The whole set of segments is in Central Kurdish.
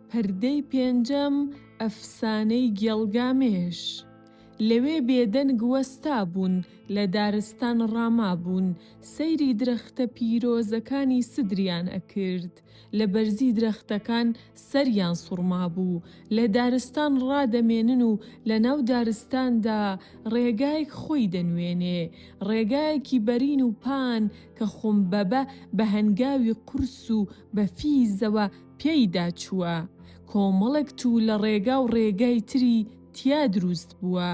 پردەی پێنجەم، ئەفسانەی گێڵگامێش. لەوێ بێدەنگ وەستابوون، لە دارستان ڕامابوون، سەیری درەختە پیرۆزەکانی سدریان ئەکرد، لە بەرزی درەختەکان سەریان سوڕمابوو، لە دارستان ڕادەمێنن و لە ناو دارستاندا ڕێگایەک خۆی دەنوێنێ، ڕێگایەکی بەرین و پان، کە خۆم بەبە بە هەنگاوی قورس و بە فیزەوە پیایدا چووە، کۆمەڵێک توو لە ڕێگا و ڕێگای تری تیا درووست بووە،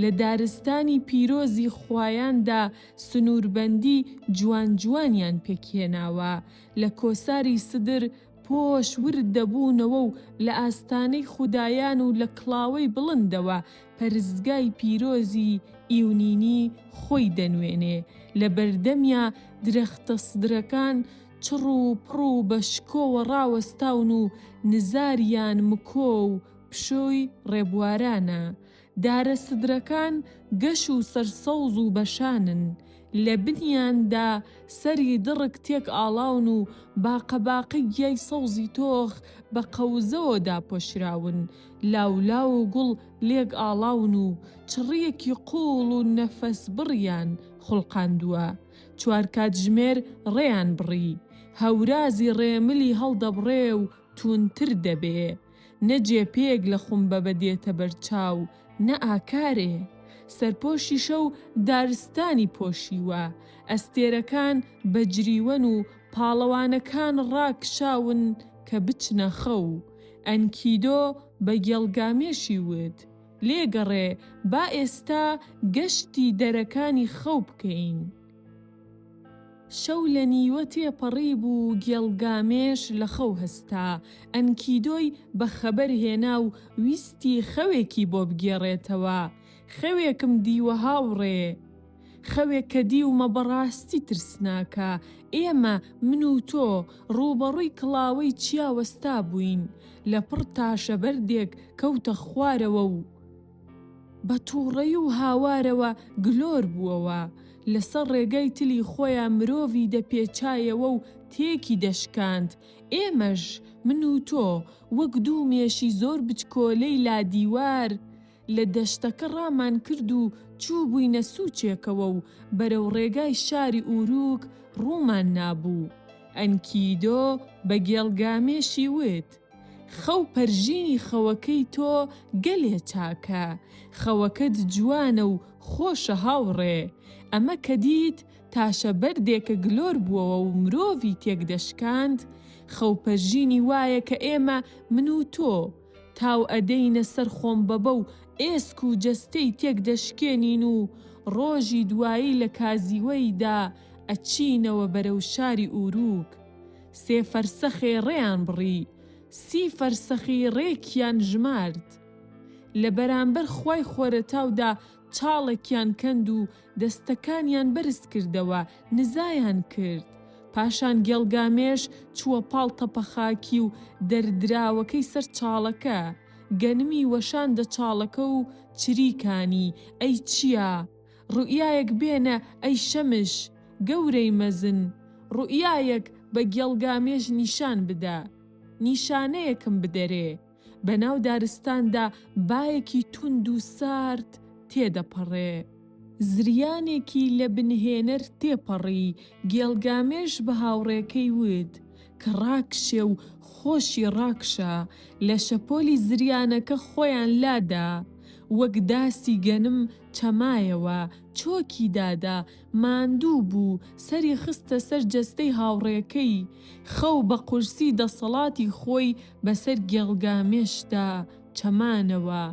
لە دارستانی پیرۆزی خوایاندا سنووربەندی جوان جوانیان پێکهێناوە، لە کۆساری سدر پۆش ورد دەبوونەوە و لە ئاستانەی خودایان و لە کڵاوەی بڵندەوە پەرستگای پیرۆزی ئیونینی خۆی دەنوێنێ، لە بەردەمیا درەختە سدرەکان چڕ و پڕ و بە شکۆوە ڕاوەستاون و نزاریان مکۆ و پشۆی ڕێبوارانە، دارە سدرەکان گەش و سەرسەوز و بەشانن، لە بنیاندا سەری دڕک تێک ئاڵاون و باقە باقەی گیای سەوزی تۆخ بە قەوزەوە داپۆشراون، لاولاو و گوڵ لێک ئاڵاون و چڕییەکی قووڵ و نەفەسبڕیان خوڵقاندووە. چوار کاتژمێر ڕێیان بڕی، هەورازی ڕێملی هەڵدەبڕێ و تووندتر دەبێ. نە جێپێیەک لە خومبەبە دێتە بەر چاو، نە ئاکارێ. سەرپۆشی شەو دارستانی پۆشیوە، ئەستێرەکان بەجریوەن و پاڵەوانەکان ڕاکشاون کە بچنە خەو. ئەنکیدۆ بە گێڵگامێشی وت، لێگەڕێ، با ئێستا گەشتی دەرەکانی خەو بکەین. شەو لە نیوە تێپەڕی بوو گێڵ گامێش لە خەو هەستا، ئەنکیدۆی بە خەبەر هێنا و ویستی خەوێکی بۆ بگێڕێتەوە، خەوێکم دیوە هاوڕێ. خەوێک کە دیومە بە ڕاستی ترسناکە، ئێمە، من و تۆ، ڕووبەڕووی کڵاوەی چیا وەستا بووین، لە پڕ تاشە بەردێک کەوتە خوارەوە و، بە توڕەی و هاوارەوە گلۆر بووەوە، لەسەر ڕێگای تلی خۆیان مرۆڤی دەپێچایەوە و تێکی دەشکاند، ئێمەش، من و تۆ، وەک دوو مێشی زۆر بچکۆلەی لادیوار، لە دەشتەکە ڕامان کرد و چووبووینە سوچێکەوە و بەرەو ڕێگای شاری ئوروک ڕوومان نابوو. ئەنکیدۆ بە گێڵگامێشی وت. خەو پەرژینی خەوەکەی تۆ گەلێ چاکە خەوەکەت جوانە و خۆشە هاوڕێ ئەمە کە دیت تاشە بەردێکە گلۆر بوەوە و مرۆڤی تێک دەشکاند خەو پەرژینی وایە کە ئێمە من و تۆ تاو ئەدەینە سەر خۆمبەبە و ئێسک و جەستەی تێک دەشکێنین و ڕۆژی دوایی لە کازیوەیدا ئەچینەوە بەرەو شاری ئوروک سێ فەرسەخێ ڕێیان بڕی، سی فەرسەخی ڕێکیان ژمارد. لە بەرامبەر خوای خۆرەتاودا چاڵێکیان کەند و دەستەکانیان بەرز کردەوە، نزایان کرد. پاشان گێڵگامێش چووە پاڵ تەپە خاکی و دەردراوەکەی سەر چاڵەکە. گەنمی وەشاندە چاڵەکە و چریکانی، ئەی چیا؟ ڕوئیایەک بێنە ئەی شەمش گەورەی مەزن، ڕوئیایەک بە گێڵگامێش نیشان بدە، نیشانەیەکم بدەرێ، بەناو دارستاندا بایەکی توند و سارد تێدەپەڕێ، زریانێکی لە بنهێنەر تێپەڕی، گێڵگامێش بە هاوڕێکەی وت کە ڕاکشێ و خۆشی ڕاکشا، لە شەپۆلی زریانەکە خۆیان لادا، وەک داسی گەنم، چەمایەوە، چۆکی دادا، ماندوو بوو، سەری خستە سەر جەستەی هاوڕێکەی. خەو بە قورسی دەسەڵاتی خۆی بەسەر گێڵگامێشدا چەمانەوە.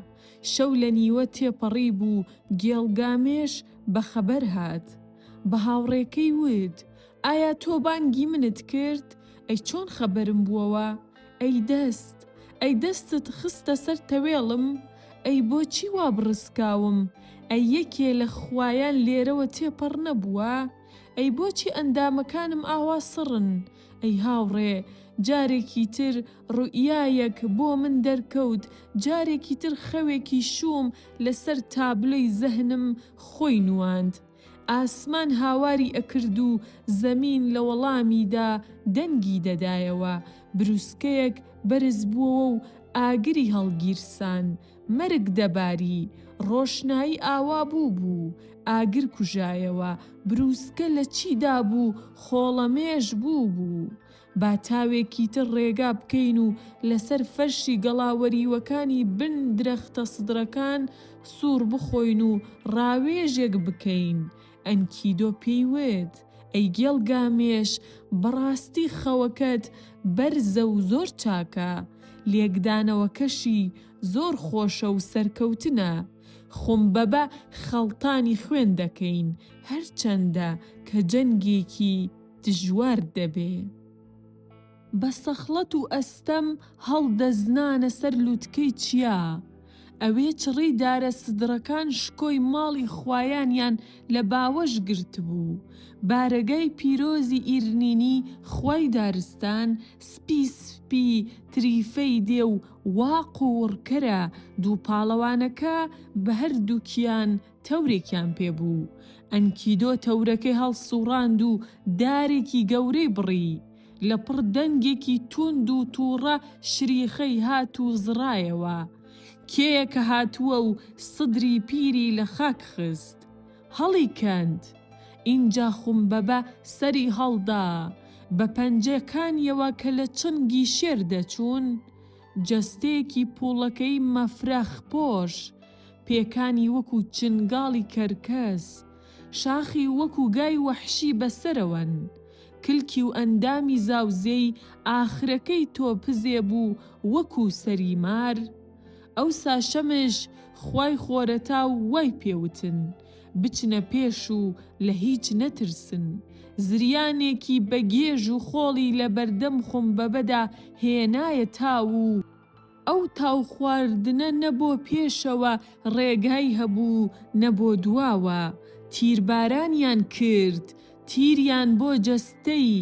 شەو لە نیوە تێپەڕی بوو، گێڵگامێش بە خەبەر هات. بە هاوڕێکەی وت، ئایا تۆ بانگی منت کرد؟ ئەی چۆن خەبەرم بووەوە؟ ئەی دەست، ئەی دەستت خستە سەر تەوێڵم، ئەی بۆچی وا بڕسکاوم، ئەی یەکێ لە خوایان لێرەوە تێپەڕ نەبووە، ئەی بۆچی ئەندامەکانم ئاوا سڕن، ئەی هاوڕێ، جارێکی تر ڕوئیایەک بۆ من دەرکەوت، جارێکی تر خەوێکی شووم لەسەر تابلۆی زەهنم خۆی نواند. ئاسمان هاواری ئەکرد و زەمین لە وەڵامیدا دەنگی دەدایەوە، بروسکەیەک بەرز بووەوە و ئاگری هەڵگیرسان، مەرگ دەباری، ڕۆشنایی ئاوا بووبوو، ئاگر کوژایەوە، بروسکە لە چی دابوو خۆڵەمێش بووبوو، با تاوێکی تر ڕێگا بکەین و لەسەر فەرشی گەڵا وەریوەکانی بن درەختە سدرەکان سووڕ بخۆین و ڕاوێژێک بکەین. ئەنکیدۆ پێی وت، ئەی گێڵ گامێش، بەڕاستی خەوەکەت بەرزە و زۆر چاکە. لێکدانەوەکەشی زۆر خۆشە و سەرکەوتنە. خومبەبە خەڵتانی خوێن دەکەین، هەرچەندە کە جەنگێکی. دژوار دەبێ. بە سەخڵەت و ئەستەم هەڵدەزنانە سەر لوتکەی چیا. ئەوێ چڕی دارە سدڕەکان شکۆی ماڵی خوایانیان لە باوەش گرتبوو. بارەگای پیرۆزی ئیرنینی خوای دارستان سپی سپی تریفەی دێ و وا قووڕکەرە دووپاڵەوانەکە بە هەردووکیان تەورێکیان پێ بوو. ئەنکیدۆ تەورەکەی هەڵسووڕاند و دارێکی گەورەی بڕی. لەپڕ دەنگێکی تووند و تووڕە شریخەی هات و زڕایەوە. کێیە کە هاتووە و سدری پیری لە خاک خست. هەڵیکەند! ئینجا خومبەبە سەری هەڵدا. بە پەنجەکانییەوە کە لە چنگی شێر دەچوون، جەستەیەکی پووڵەکەی مەفرەخپۆش پێکانی وەکو چنگاڵی کەرکەس، شاخی وەکو گای وەحشی بەسەرەوەن، کلکی و ئەندامی زاوزێی ئاخرەکەی تۆپزێ بوو وەکو سەری مار، ئەوسا شەمش خوای خۆرەتاو وای پێ وتن، بچنە پێش و لە هیچ نەترسن، زریانێکی بە گێژ و خۆڵی لە بەردەم خومبەبەدا هێنایە تاو و، ئەو تاو خواردنە نە بۆ پێشەوە ڕێگای هەبوو نە بۆ دواوە، تیربارانیان کرد، تیریان بۆ جەستەی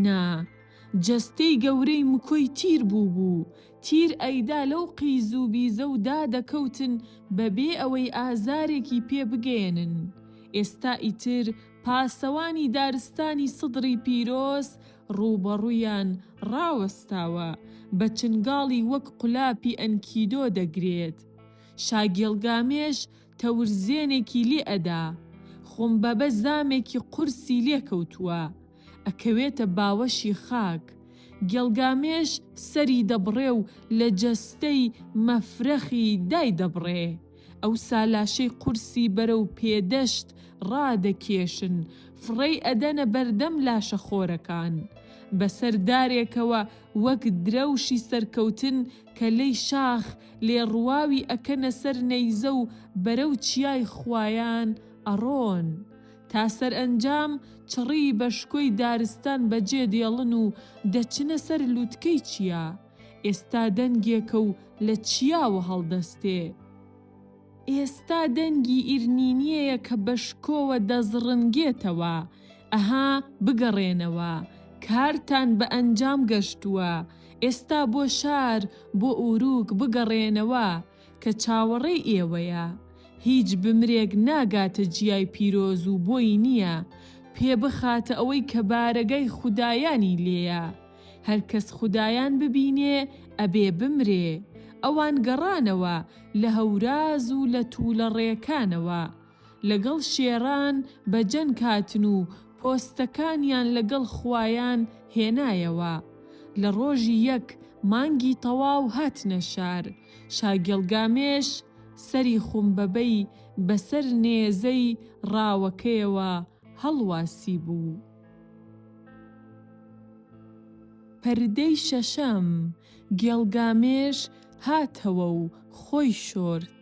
نا. جەستەی گەورەی مکۆی تیر بووبوو، تیر ئەیدا لەو قیز و بیزە و دا دەکەوتن بە بێ ئەوەی ئازارێکی پێ بگەیەنن. ئێستا ئیتر پاسەوانی دارستانی سدڕی پیرۆز ڕووبەڕوویان ڕاوەستاوە، بە چنگاڵی وەک قولاپی ئەنکیدۆ دەگرێت. شاگێڵگامێش تەورزێنێکی لێ ئەدا. خۆمبەبە زامێکی قورسی لێ کەوتووە. ئەکەوێتە باوەشی خاک. گێڵگامێش سەری دەبڕێ و لە جەستەی مەفرەخی دایدەبڕێ. ئەوسا لاشەی قورسی بەرەو پێدەشت ڕادەکێشن، فڕێی ئەدەنە بەردەم لاشە خۆرەکان. بەسەر دارێکەوە وەک درەوشی سەرکەوتن کە لەی شاخ لێ ڕواوی ئەکەنە سەر نەیزە و بەرەو چیای خوایان ئەڕۆن. تا سەرئەنجام چڕی بە شکۆی دارستان بەجێ دێڵن و دەچنە سەر لوتکەی چیا. ئێستا دەنگێکە و لە چیاوە هەڵدەستێ. ئێستا دەنگی ئیرنینیەیە کە بە شکۆوە دەزڕنگێتەوە، ئەها بگەڕێنەوە، کارتان بە ئەنجام گەشتووە، ئێستا بۆ شار، بۆ ئورووک بگەڕێنەوە، کە چاوەڕێی ئێوەیە. هیچ بمرێک ناگاتە جیای پیرۆز و بۆی نییە پێ بخاتە ئەوەی کە بارەگای خودایانی لێیە. هەرکەس خودایان ببینێ ئەبێ بمرێ ئەوان گەڕانەوە لە هەوراز و لە توولە ڕێکانەوە لەگەڵ شێران بە جەنگ هاتن و پۆستەکانیان لەگەڵ خوایان هێنایەوە لە ڕۆژی یەک مانگی تەواو هاتنە شار شاگێڵگامێش سەری خومبەبەی بەسەر نێزەی ڕاوەکەیەوە هەڵواسیبوو. پەردەی شەشەم، گێڵگامێش هاتەوە و خۆی شۆرد.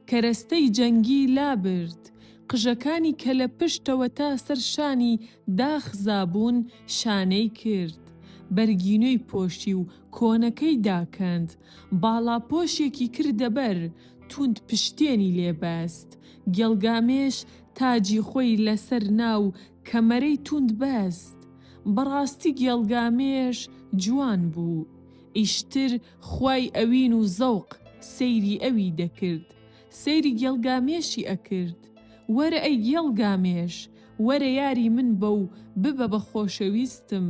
کەرەستەی جەنگی لابرد. قژەکانی کە لە پشتەوە تا سەر شانی داخزابوون شانەی کرد. بەرگینۆی پۆشی و کۆنەکەی داکەند. باڵاپۆشێکی کردە بەر، توند پشتێنی لێ بەست. گێڵگامێش تاجی خۆی لەسەر نا و کەمەرەی توند بەست. بەڕاستی گێڵگامێش جوان بوو. ئیشتر خوای ئەوین و زەوق سەیری ئەوی دەکرد. سەیری گێڵگامێشی ئەکرد. وەرە ئەی گێڵگامێش، وەرە یاری من بە و ببە بە خۆشەویستم.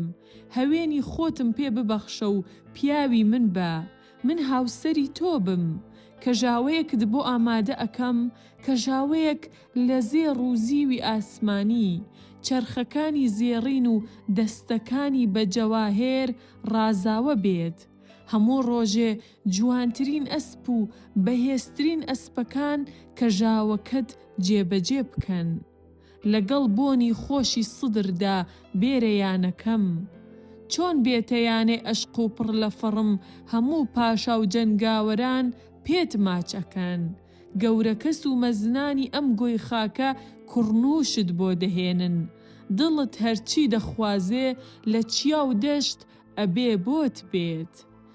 هەوێنی خۆتم پێ ببەخشە و پیاوی من بە. من هاوسەری تۆ بم کەژاوەیەکت بۆ ئامادە ئەکەم کەژاوەیەک لە زێڕ و زیوی ئاسمانی چەرخەکانی زێڕین و دەستەکانی بە جەواهێر ڕازاوە بێت هەموو ڕۆژێ جوانترین ئەسپ و بەهێزترین ئەسپەکان کەژاوەکەت جێبەجێ بکەن. لەگەڵ بۆنی خۆشی سدردا بێرە یانەکەم چۆن بێتە یانەی ئەشق و پڕ لە فەڕم هەموو پاشا و جەنگاوەران پێت ماچ ئەکەن گەورەکەس و مەزنانی ئەم گۆی خاکە کوڕنووشت بۆ دەهێنن دڵت هەرچی دەخوازێ لە چیا و دەشت ئەبێ بۆت بێت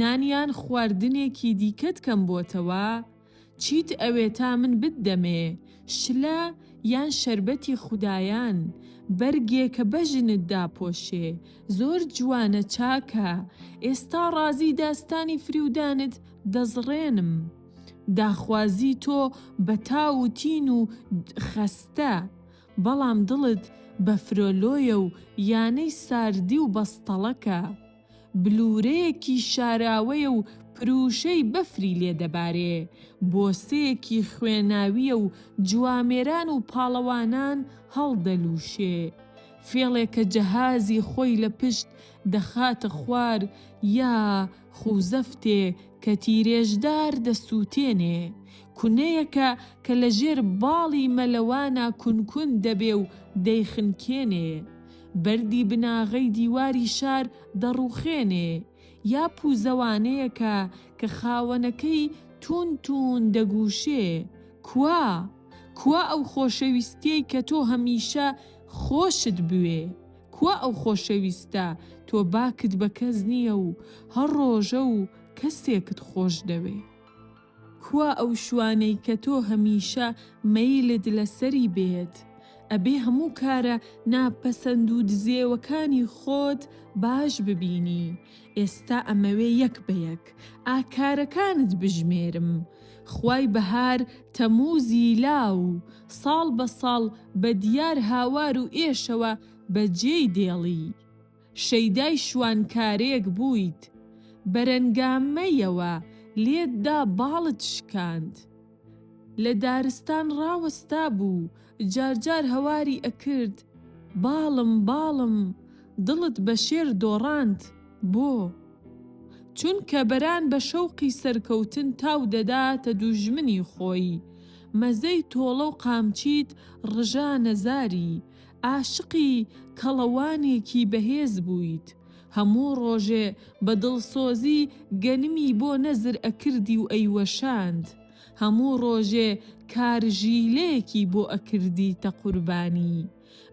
نانیان خواردنێکی دیکەت کەم بۆتەوە؟ چیت ئەوێ تا من بت دەمێ؟ شلە یان شەربەتی خودایان؟ بەرگێ کە بەژنت داپۆشێ؟ زۆر جوانە چاکە ئێستا ڕازی داستانی فریودانت دەزڕێنم. داخوازی تۆ بە تاو و تین و خەستە بەڵام دڵت بە فرۆلۆیە و یانەی ساردی و بەستەڵەکە. بلورەیەکی شاراوەیە و پرووشەی بەفری لێ دەبارێ، بۆسەیەکی خوێناوییە و جوامێران و پاڵەوانان هەڵدەلووشێ. فێڵێکە جەهازی خۆی لە پشت دەخاتە خوار یا خووزەفتێ کە تیرێژدار دەسووتێنێ. کونەیەکە کە لە ژێر باڵی مەلەوانا کونکون دەبێ و دەیخنکێنێ. بەردی بناغەی دیواری شار دەڕوخێنێ، یا پووزەوانەیەکە کە خاوەنەکەی توون توون دەگووشێ، کوا؟ کوا ئەو خۆشەویستیەی کە تۆ هەمیشە خۆشت بوێ؟ کوا ئەو خۆشەویستە تۆ باکت بە کەس نیە و هەر ڕۆژە و کەسێکت خۆش دەوێ؟ کوا ئەو شوانەی کە تۆ هەمیشە مەیلت لەسەری بێت؟ ئەبێ هەموو کارە نا پەسەند و دزێوەکانی خۆت باش ببینی، ئێستا ئەمەوێ یەک بە یەک ئا کارەکانت بژمێرم. خوای بەهار تەمووزی لاو، ساڵ بە ساڵ بە دیار هاوار و ئێشەوە بە جێی دێڵی. شەیدای شوان کارێک بوویت بەرەنگامەیەوە لێت دا باڵت شکاند لە دارستان ڕاوەستا بوو جار جار هەواری ئەکرد باڵم باڵم دڵت بە شێر دۆڕاند بۆ؟ چونکە بەران بە شەوقی سەرکەوتن تاو دەداتە دووژمنی خۆی مەزەی تۆڵە و قامچیت ڕژانە زاری ئاشقی کەڵەوانێکی بەهێز بوویت، هەموو ڕۆژێ بە دڵسۆزی گەنمی بۆ نەزر ئەکردی و ئەیوەشاند، هەموو ڕۆژێ کارژیلەیەکی بۆ ئەکردیتە قوربانی،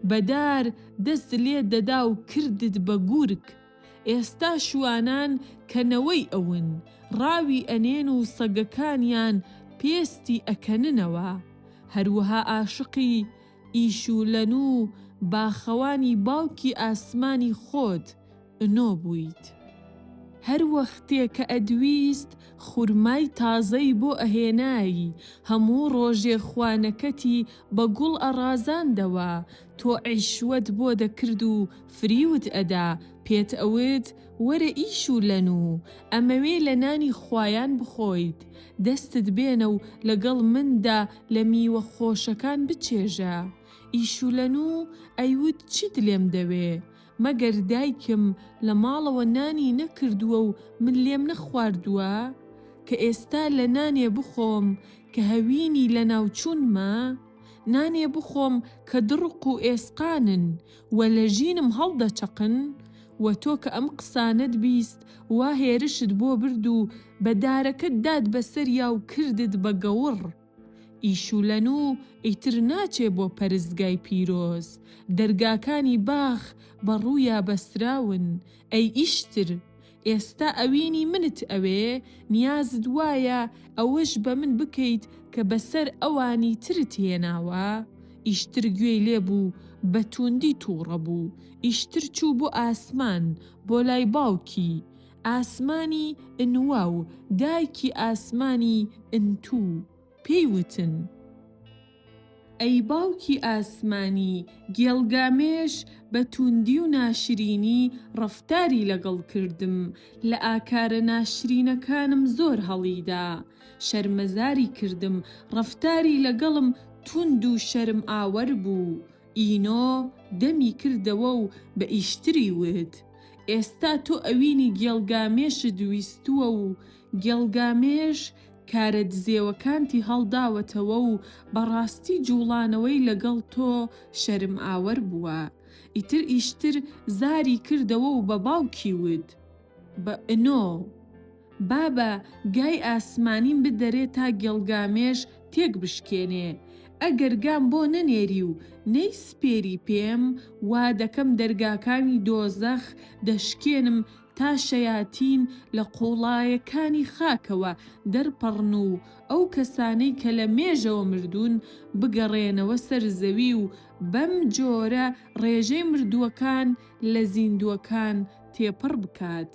بە دار دەست لێت دەدا و کردت بە گورگ. ئێستا شوانان کە نەوەی ئەون، ڕاوی ئەنێن و سەگەکانیان پێستی ئەکەننەوە. هەروەها ئاشقی. ئیشولەن و باخەوانی باوکی ئاسمانی خۆت ئنۆ بوویت. هەر وەختێ کە ئەدویست خورمای تازەی بۆ ئەهێنای، هەموو ڕۆژێ خوانەکەتی بە گوڵ ئەڕازاندەوە، تۆ عیشوەت بۆ دەکرد و فریوت ئەدا، پێت ئەوت وەرە ئیش و لەن و ئەمەوێ لە نانی خوایان بخۆیت، دەستت بێنە و لەگەڵ مندا لە میوە خۆشەکان بچێژە. ئیشولەنو ئەیوت چیت لێم دەوێ؟ مەگەر دایکم لە ماڵەوە نانی نەکردووە و من لێم نەخواردووە؟ کە ئێستا لە نانێ بخۆم کە هەوینی لەناوچوونمە؟ نانێ بخۆم کە دڕق و ئێسقانن و لە ژینم هەڵدەچەقن و تۆ کە ئەم قسانەت بیست وا هێرشت بۆ برد و بە دارەکەت دات بە سەریا و کردت بە گەوڕ. ئیشولەنوو ئیتر ناچێ بۆ پەرستگای پیرۆز، دەرگاکانی باخ بە ڕوویا بەستراون، ئەی ئیشتر! ئێستا ئەوینی منت ئەوێ؟ نیازت وایە ئەوەش بە من بکەیت کە بە سەر ئەوانی ترت هێناوە؟ ئیشتر گوێی لێ بوو بە تووندی تووڕە بوو، ئیشتر چوو بۆ ئاسمان، بۆ لای باوکی ئاسمانی ئنوا و دایکی ئاسمانی ئنتوو، پێی وتن. ئەی باوکی ئاسمانی، گێڵ گامێش بە تووندی و ناشرینی ڕەفتاری لەگەڵ کردم، لە ئاکارە ناشرینەکانم زۆر هەڵیدا، شەرمەزاری کردم، ڕەفتاری لەگەڵم تووند و شەرمئاوەر بوو. ئینۆ دەمی کردەوە و بە ئیشتری وت، ئێستا تۆ ئەوینی گێڵ گامێشت ویستووە و گێڵگامێش کارە دزێوەکانتی هەڵداوەتەوە و بەڕاستی جووڵانەوەی لەگەڵ تۆ شەرمئاوەر بووە. ئیتر ئیشتر زاری کردەوە و بە باوکی وت، بە ئنۆ! بابە گای ئاسمانیم بدەرێ تا گێڵگامێش تێک بشکێنێ. ئەگەر گام بۆ نەنێری و نەیسپێری پێم، وا دەکەم دەرگاکانی دۆزەخ دەشکێنم تا شەیاتین لە قووڵایەکانی خاکەوە دەرپەڕن و ئەو کەسانەی کە لە مێژەوە مردوون بگەڕێنەوە سەر زەوی و بەم جۆرە ڕێژەی مردووەکان لە زیندووەکان تێپەڕ بکات.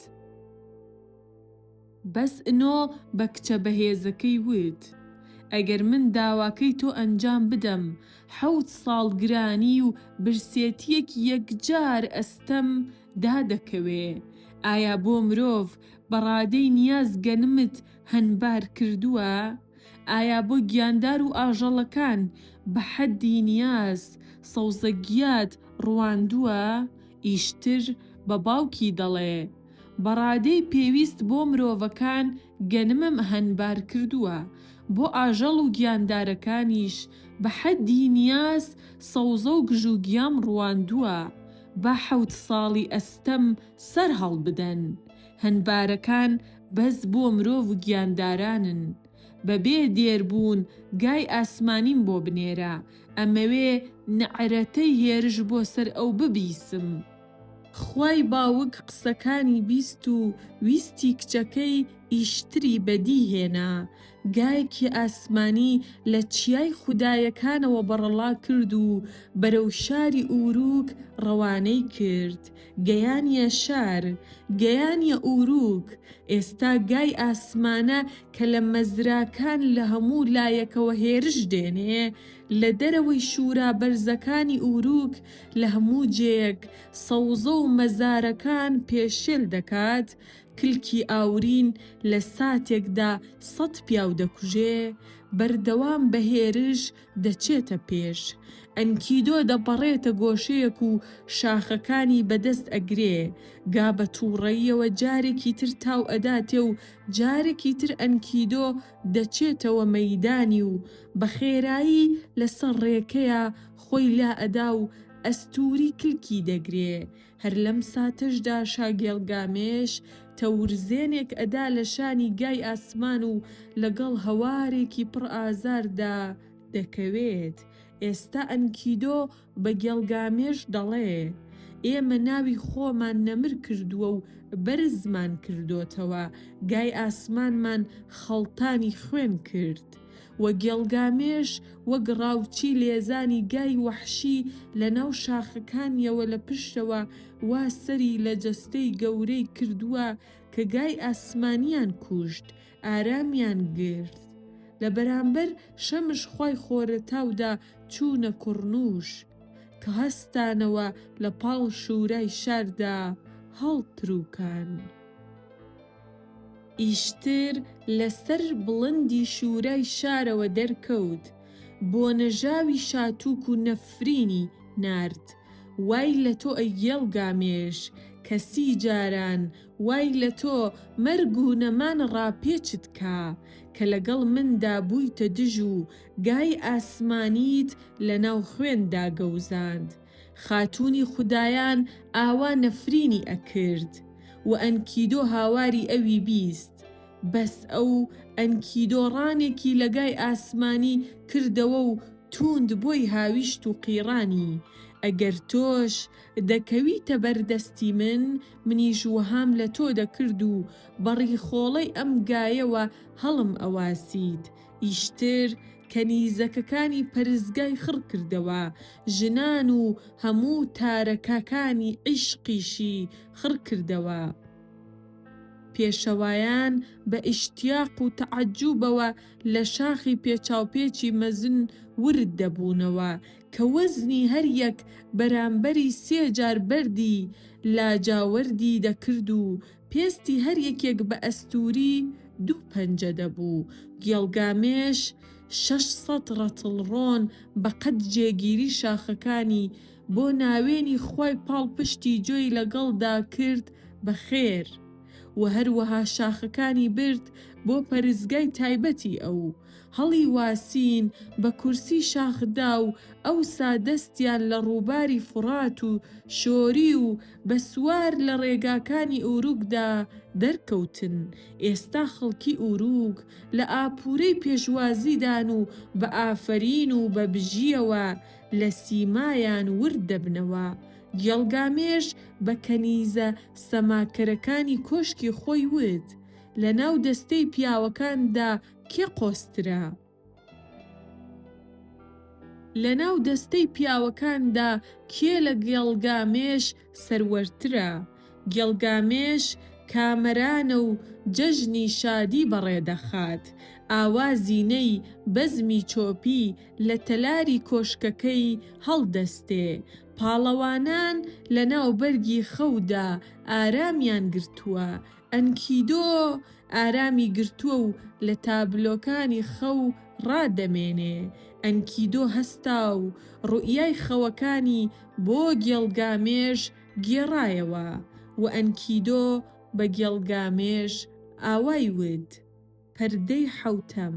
بەس ئنۆ بە کچە بەهێزەکەی وت ئەگەر من داواکەی تۆ ئەنجام بدەم حەوت ساڵ گرانی و برسێتیەک یەکجار ئەستەم دا دەکەوێ ئایا بۆ مرۆڤ بە ڕادەی نیاز گەنمت هەنبار کردوە ئایا بۆ گیاندار و ئاژەڵەکان بە حەدی نیاز سەوزە گیات ڕواندوە ئیشتر بە باوکی دەڵێ بەڕادەی پێویست بۆ مرۆڤەکان گەنمم هەنبار کردووە، بۆ ئاژەڵ و گیاندارەکانیش بە حەدی نیاز سەوزە و گژوگیام ڕواندووە، با حەوت ساڵی ئەستەم سەر هەڵبدەن، هەنبارەکان بەس بۆ مرۆڤ و گیاندارانن، بە بێ دێر بوون گای ئاسمانیم بۆ بنێرە، ئەمەوێ نەعرەتەی هێرش بۆ سەر ئەو ببیسم. خوای باوک قسەکانی بیست و ویستی کچەکەی ئیشتری بەدی هێنا، گایەکی ئاسمانی لە چیای خودایەکانەوە بەڕەڵا کرد و بەرەو شاری ئووروک ڕەوانەی کرد، گەیانیە شار، گەیانیە ئووروک، ئێستا گای ئاسمانە کە لە مەزراکان لە هەموو لایەکەوە هێرش دێنێ، لە دەرەوەی شوورا بەرزەکانی ئووروک، لە هەموو جێیەک سەوزە و مەزارەکان پێشێل دەکات، کلکی ئاورین لە ساتێکدا سەد پیاو دەکوژێ، بەردەوام بە هێرش دەچێتە پێش. ئەنکیدۆ دەپەڕێتە گۆشەیەک و شاخەکانی بە دەست ئەگرێ. گا بە تووڕەییەوە جارێکی تر تاو ئەداتێ و جارێکی تر ئەنکیدۆ دەچێتەوە مەیدانی و بە خێرایی لە سەر ڕێکەیا خۆی لا ئەدا و ئەستووری کلکی دەگرێ، هەر لەم ساتەشدا شاگێڵ گامێش تەورزێنێک ئەدا لە شانی گای ئاسمان و لەگەڵ هەوارێکی پڕ ئازاردا دەکەوێت، ئێستا ئەنکیدۆ بە گێڵ گامێش دەڵێ، ئێمە ناوی خۆمان نەمر کردووە و بەرزمان کردۆتەوە، گای ئاسمانمان خەڵتانی خوێن کرد. و گێڵگامێش وەک ڕاوچی لێزانی گای وەحشی لە ناو شاخەکانیەوە لە پشتەوە وا سەری لە جەستەی گەورەی کردووە کە گای ئاسمانیان کوشت ئارامیان گرت لە بەرامبەر شەمش خوای خۆرەتاودا چوونە کوڕنووش کە هەستانەوە لە پاڵ شوورای شاردا هەڵترووکان. ئیشتر لە سەر بڵندی شوورای شارەوە دەرکەوت، بۆ نەژاوی شاتووک و نەفرینی نارد، وای لە تۆ ئەی گێڵ گامێش، کە سی جاران وای لە تۆ مەرگ و نەمان ڕاپێچت کا، کە لەگەڵ مندا بوویتە دژ و گای ئاسمانیت لە ناو خوێندا گەوزاند. خاتوونی خودایان ئاوا نەفرینی ئەکرد و ئەنکیدۆ هاواری ئەوی بیست، بەس ئەو ئەنکیدۆ ڕانێکی لەگای ئاسمانی کردەوە و تووند بۆی هاویشت و قیڕانی، ئەگەر تۆش دەکەویتە بەر دەستی من، منیش وەهام لە تۆ دەکرد و بە ڕیخۆڵەی ئەم گایەوە هەڵم ئەواسیت، ئیشتر کەنیزەکەکانی پەرستگای خڕ کردەوە، ژنان و هەموو تارەکەکانی عیشقیشی خڕ کردەوە. پێشەوایان بە ئیشتیاق و تەعەجوبەوە لە شاخی پێچاوپێچی مەزن ورد دەبوونەوە کە وەزنی هەر یەک بەرامبەری سێ جار بەردی لاجاوەردی دەکرد و پێستی هەر یەکێک بە ئەستووری دوو پەنجە دەبوو، گێڵگامێش شەش سەد ڕەتڵ ڕۆن بە قەد جێگیری شاخەکانی بۆ ناوێنی خوای پاڵپشتی جۆی لەگەڵدا کرد بە خێر و هەروەها شاخەکانی برد بۆ پەرستگای تایبەتی ئەو. هەڵی واسین بە کورسی شاخ دا و ئەوسا دەستیان لە ڕووباری فوڕات و شۆری و بە سوار لە ڕێگاکانی ئوروگدا دەرکەوتن، ئێستا خەڵکی ئوروگ لە ئاپورەی پێشوازیدان و بە ئافەرین و بە بژییەوە لە سیمایان ورد دەبنەوە، گێڵگامێش بە کەنیزە سەماکەرەکانی کۆشکی خۆی وت، لەناو دەستەی پیاوەکاندا کێ قۆزترە؟ لەناو دەستەی پیاوەکاندا کێ لە گێڵگامێش سەروەرترە؟ گێڵگامێش کامەرانە و جەژنی شادی بەڕێدەخات. ئاوا زینەی بەزمی چۆپی لە تەلاری کۆشکەکەی هەڵدەستێ. پاڵەوانان لەناو بەرگی خەودا ئارامیان گرتووە. ئەنکیدۆ ئارامی گرتووە و لە تابلۆکانی خەو ڕا دەمێنێ. ئەنکیدۆ هەستا و ڕوئیای خەوەکانی بۆ گێڵگامێش گێڕایەوە و ئەنکیدۆ بە گێڵگامێش ئاوای وت. پەردەی حەوتەم.